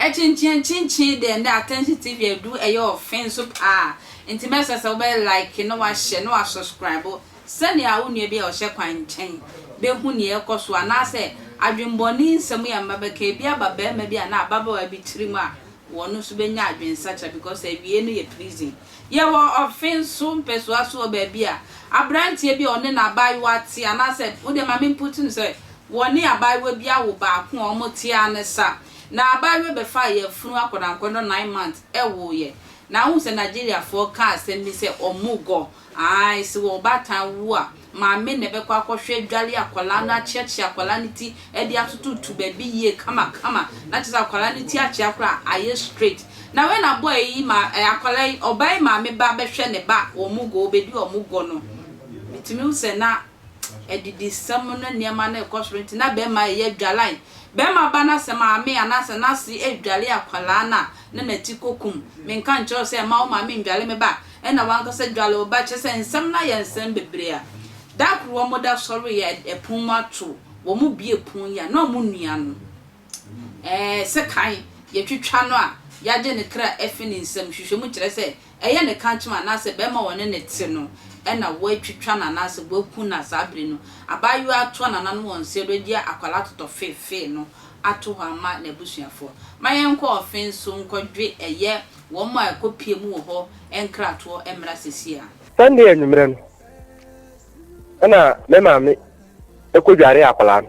Ɛkyenkyen kyenkyen dɛ ndɛ attention TV edu ɛyɛ ɔfe nso paa ntsi mɛsrɛ sɛ wobɛyɛ like na wahyɛ na wa subscribe sɛnea wo nua bi a ɔhyɛ kwan nkyɛn bɛhu nea ɛkɔ so anaasɛ adwenbɔne nsɛm yɛ mma bɛka ebi aba bɛɛma bi anaa ababaawa bi tirim a wɔn nso bɛnya adwensakyera because awiei no yɛ prison. Yɛwɔ ɔfe nso mpɛsoa so wɔ baabi a aberanteɛ bi a ɔne n'abaayewa te anaasɛ wo deɛ ma me mputi no sɛ wɔne abaayewa bi awo baako a wɔte ara ne sa na abaayewa bɛfa ayafunu akɔdankɔdɔ nine months wooeɛ na wohu sɛ Nigeriafoɔ ka asɛm bi sɛ ɔmugɔ Ae, se wo ɔbaatan wu a, maame na ɛbɛkɔ akɔhwɛ adware akwadaa no, akyeakyea akwadaa no ti de atototo baabi yie kamakama, na kyerɛ sɛ akwadaa no ti akyea koraa a, ayɛ straight. Na wei na boy yi ma eh, akwadaa yi, ɔbaa yi maame ba bɛhwɛ ne ba, wɔn gɔ, wɔbɛdi wɔn gɔ no, metumi hu sɛ na. adidisɛm ne nneɛma no rekɔ so nti, na bɛrima reyɛ adwalan. Bɛrima ba no asɛ maame anaasɛ n'ase redwale akwadaa no a, na n'ati kokum. Menka nkyerɛ wo sɛ mma wo maame nnwale me ba? Ɛnna w'ankasa dwale wo ba? Kyerɛ sɛ, nsɛm no ayɛ nsɛm bebree a. Da koro wɔda sɔreeɛ a, pono mu ato. Wɔbue pono yi a, na wɔn nua no. Ɛɛ, sekan, yɛtwitwa no a, yɛagye ne kra afi ne nsam. Nhwehwɛmu kyerɛ sɛ, Ɛyɛ ne kankyem anaasɛ barima a ɔne no te no na watwitwa no anaasɛ waku no a saa bere no abaayewa yi atoa nananom wɔ nseɛ do agye akwadaa totɔfeefee no ato hɔ ama n'abusuafoɔ. Ma yɛnkɔ ɔfe nso nkɔdwe ɛyɛ wɔn a ɛkɔpue mu wɔ hɔ nkratoɔ mmra seesei ara. Sunday anwummerɛ no na me maame kɔdwaree akwadaa no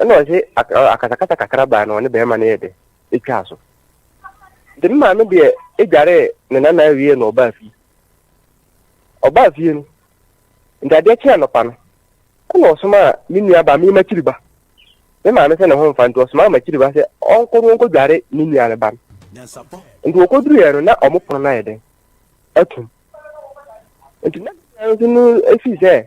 ɛna ɔse akasakasa kakra baa na ɔne bɛrima no yɛ dɛ ɛtwaa so nti me maame deɛ ɛdwaree ne nana awie na ɔbaa fie ɔbaa fie no nti adeɛ kye anɔpa no ɛna ɔsoma a me nua ba me makyiri ba me maame sɛ ne ho mfa nti ɔsoma a makyiri ba sɛ ɔnkɔ no ɔnkɔ dware ne nua no ba no nti ɔkɔduruiɛ no na ɔmo pono no ayɛ dɛn atum nti na nso no ɛfii sɛ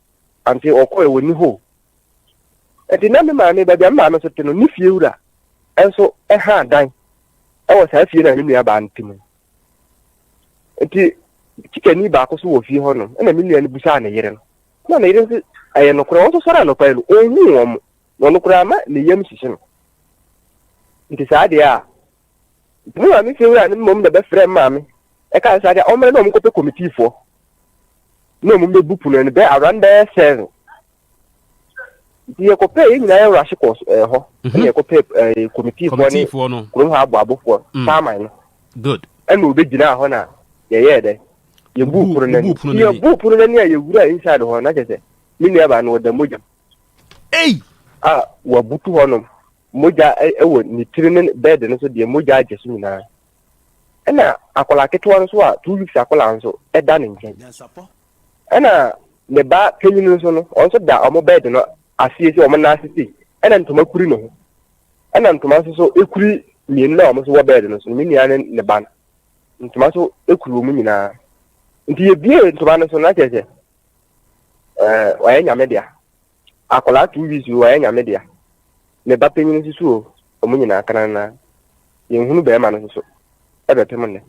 Ankyɛ wɔkɔeɛ, wɔnni hɔ o. Enti na me maame, baabi a me maame nso te no, ne fiewura nso ha dan wɔ saa fie no a me nuabaa no te mu no. Enti Kyikani baako nso wɔ fie hɔnom, ɛna me nua no bisaa ne yere no, na ne yere nso ɛyɛ nokorɛ, wɔn nso sɔre anɔpa yi no, ɔnhuu wɔn, na ɔno koraa ama ne yam hyehye no. Nti saa deɛ a Mo maame fie wura no mmom na bɛfrɛɛ me maame ɛkaa sɛ agya ɔmmra na ɔmo nkɔpɛ komitiifoɔ na ɔmo bɛbu pono no bɛɛ around bɛɛ seven nti yɛkɔpɛɛ yɛn nyinaa yɛ rush kɔɔ ɛɛ hɔ mhm. ɛna yɛkɔpɛɛ ɛɛ komitiifoɔ ne kurom ha aboabofoɔ mm. saaman no good ɛna ɔbɛgyinaa hɔ na yɛyɛɛ dɛ yɛbuu pono no ani yɛbuu pono no ani a yɛwura inside hɔ na kyɛ sɛ me nuabaa no ɔda mogya a wabutu hɔnom mogya wɔ ne tiri ne bɛɛde no so deɛ mogya agye so nyinaa. Ɛna akwadaa ketewa nso a two weeks akwadaa nso ɛda ne nkyɛn. Ɛna ne ba panyin nso no wɔn nso da wɔn bɛɛde no aseɛ sɛ wɔn nan ase sei. Ɛna ntoma kuri ne ho. Ɛna ntoma nso so ekuri mmienu na wɔn nso wɔ bɛɛde no so ne nua ne ne ba no. Ntoma nso ekuri wɔn nyinaa. Nti yɛbie ntoma no so na kyerɛ sɛ ɛɛ wɔyɛ nyame dea. Akwadaa two weeks o ɔyɛ nyame dea. Me ba panyin nso so o ɔmo nyinaa kanana. Yɛn hunu bɛrima no nso so ɛbɛ pem nnɛ.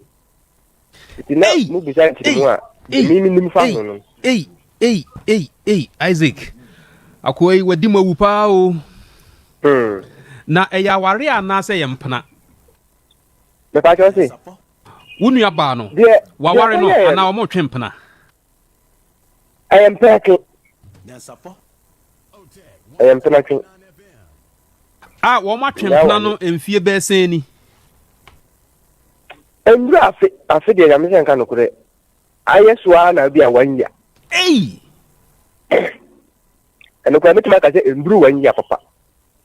Nti na mo bisa nkyerɛ mu a emi mi nim fa ho no. Ei ei ei ei Isaac akoa yi wadi mo awu paa o. Hmm. Na ɛyɛ aware anaasɛ yɛ mpena. Mepatwa ɔse. Wo nua baa no. Deɛ. Waware no anaa ɔmo twe mpena. ɛyɛ mpenatwe ɛyɛ mpenatwe a wɔn atwe mpena no mfie bɛsɛn ni nnuru afe afe deɛ nyame sɛ nka nokorɛ ayɛ so ara na bi a one year ɛno koraa mɛtumi aka sɛ nnuru one year papa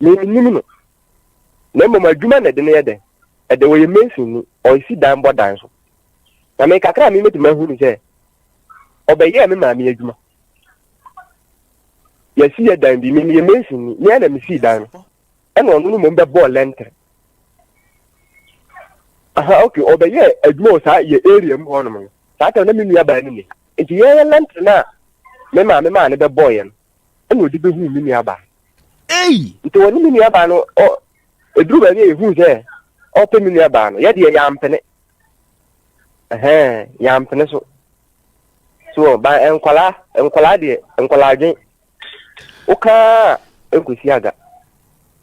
Mennim no. Na mmom adwuma na ɛde no yɛ dɛn? Ɛde ɔyɛ mason ni, ɔresi dan bɔ dan so. Na me kakra a memetumi ahu no sɛ ɔbɛyɛɛ me maame adwuma. Yɛsi yɛ dan bi, meyɛ mason ni, me na mesii dan no. Ɛna ɔno no mmom bɛbɔɔ lɛntere. Aha, okay, ɔbɛyɛɛ adwuma wɔ saa yɛ area mu hɔnom no. Saa tɛm na me nua baa no ni. Nti yɛyɛ lɛntere no a me maame maa no bɛbɔɔ yɛn. ɛna ɔde bɛhuu me nuabaa Ei! nti ɔne me nuabaa no ɔ ɛduru baabi a yɛhuu sɛ ɔpɛ me nuabaa no yɛdeɛ yɛampene ɛhɛn yɛampene so so ba nkwadaa nkwadaa deɛ nkwadaa adwen wokaa nkɔsi aga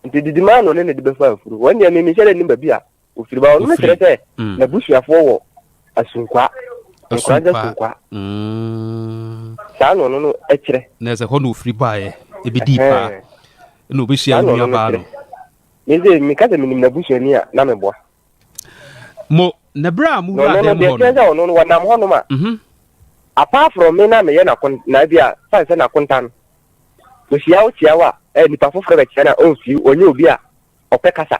nti didi maa no ne ne de bɛfa afuro wɔn deɛ memehyɛ dɛ ne baabi a Ofiri ba hɔ no kyerɛ sɛ mm. n'abusuafoɔ wɔ Asunkwa. Nkuragye Asunkwa. Mm. Saa na ɔno no kyerɛ. Na ɛsɛ hɔ na ofiri baeɛ ebedii paa na obehyia onua baa no. Mese meka sɛ menim n'abusuani a na meboa. Mo na bere a mo wura dɛm hɔ no. Na ɔno no deɛ kyerɛ sɛ ɔno no wɔnam hɔnom a. Mhm. Apart from me na meyɛ n'akon na ebi a fan sɛ n'akonta no. Ohyia wo kyia wo a eh, nipa foforɔ bɛkyia na ɔnfiri ɔnyɛ obi a ɔpɛ kasa.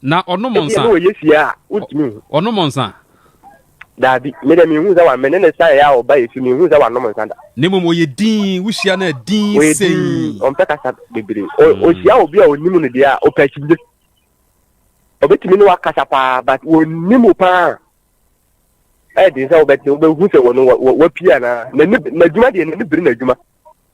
Na ɔnom nsa. Ebi na ɔyɛ fie a wontumi nhu. Ɔnom nsa. Daabi, me deɛ menhu sɛ wa me ne ne san yɛ a ɔba yɛ fie menhu sɛ wanom nsa da. Na mmom ɔyɛ dinn, wohyia no a dinn sei. Ɔyɛ dinn, ɔmpɛ kasa bebree. Mm. Ɔhyia obi a ɔnim no deɛ a ɔpɛ akyimde. Ɔbɛtumi ne wakasa paa but wɔnim wo paa. Ɛyɛ den sɛ wobɛte wobɛhu sɛ wɔno wapie anaa. N'adwuma deɛ n'ani bere n'adwuma.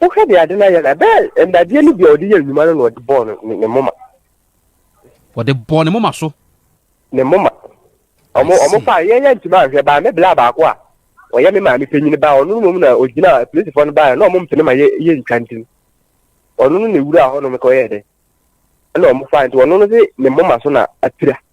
Wohwɛ deɛ ade no ayɛ no a, ɛbɛyɛ nnadeɛ no bi a ɔde yɛ nnwuma no na ɔde bɔɔ no ne ne moma. Ɔde bɔɔ ne moma so. Ne moma. Ɔmo ɔmo faa yɛn yɛn ntoma anhwɛ baa me bla baako a ɔyɛ me maame panyin baa ɔno no mu na ɔgyina polisifoɔ no baa na ɔmo mpene ma yɛ yɛ ntwa nti ɔno no na ewura hɔ nom kɔyɛ dɛ ɛna ɔmo faa nti ɔno no de ne moma so na apira.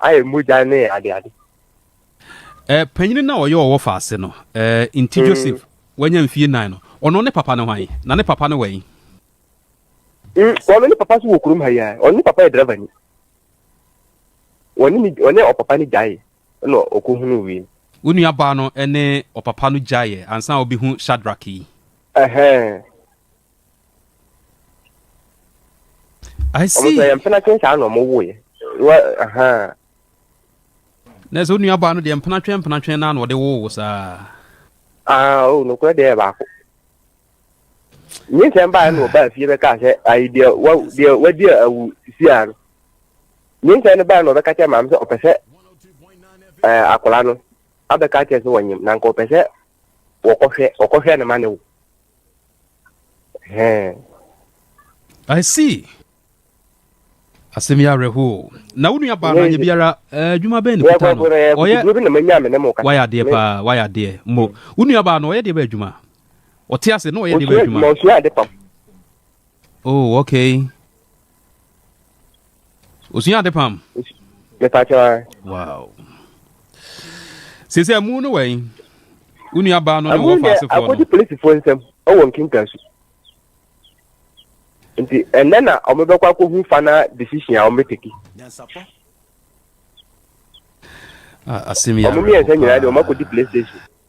ayɛ mogya ne adeade. Eh, panyin na ɔyɛ ɔwɔ faase no, eh, nti mm. Joseph wanya mfie nan no, ɔno ne papa no hwan? Na ne papa no wɔ yi? Mm, ɔno ne papa so wɔ kurom ha yi a, ɔno ne papa yɛ driver ni. Ɔne ɔpapa no gyae na ɔkɔhunu wei. Wo nuabaa no ne ɔpapa no gyaeɛ ansa a ɔbɛhu Shadrach yi? Ɛhɛn. I see. Ọmọ sọ yẹn mpena twẹn saa na ọmọ wo yẹ. Wọ ahan. Na ẹsẹ onua baa no deɛ mpena twɛn mpena twɛn naa na ɔde wo wo saa. Ah o oh, nokorɛ deɛ baako. Nye nsɛm baa na ɔbaa fie bɛka sɛ ayi deɛ wa deɛ wadi awu sisi a no. Nye nsɛm no baa na ɔbɛka kyɛ maame sɛ ɔpɛ sɛ ɛɛ akwadaa no abɛka kyɛ sɛ wɔnyem na nka ɔpɛ sɛ wɔkɔhwɛ wɔkɔhwɛ no ma ne wo I see asɛm yi awerɛhoɔ na wo nua baa no anyɛ biara adwuma bɛn ne kuta no ɔyɛ wayɛ adeɛ paa wayɛ adeɛ mo wo nua baa no ɔyɛ deɛ bɛ adwuma ɔte ase na ɔyɛ deɛ bɛ adwuma oh okay osua ade pam mepakyɛ wa wow sɛsɛ mu no wɛn wo nua baa no ne wɔ faase fɔ no akɔdi polisifoɔ nsɛm ɛwɔ nkenka su nti ɛnɛ na wɔbɛkɔ akɔhu fana decision a wɔbɛteki ah, asɛm yi awerɛhoɔ paa wɔn mmiɛnsa nyinaa de wɔn akɔdi playstation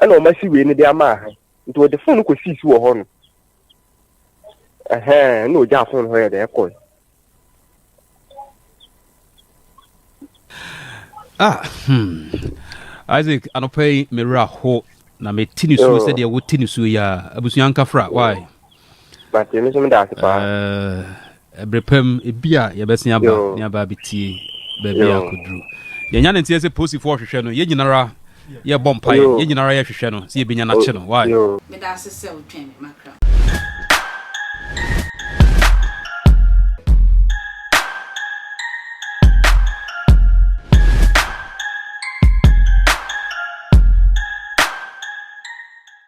ɛna wɔasi wei no de ama aha nti wɔde fon no kɔ sii so wɔ hɔ no ɛhɛn na ogya fon hɔ yɛ dɛ ɛkɔe. ah hmm isaac anɔpa yi mewura ho na mete ne suo sɛdeɛ wote ne suo yi a abusua nkafra why Mate, me nso meda ase paa. Eh, ɛberɛ pa mu, ebi a yɛbɛsen aba Yo. ne aba abɛtie baabi a Yo. akɔduru. Yɛnya ne nteɛ sɛ posifoɔ hwehwɛ no, yɛn nyinara yɛbɔ mpaeɛ, Yo. yɛn nyinara yɛhwehwɛ no sɛ yɛbɛnya no akye no. Why? Yo. Meda ase sɛ wotwɛn me makra.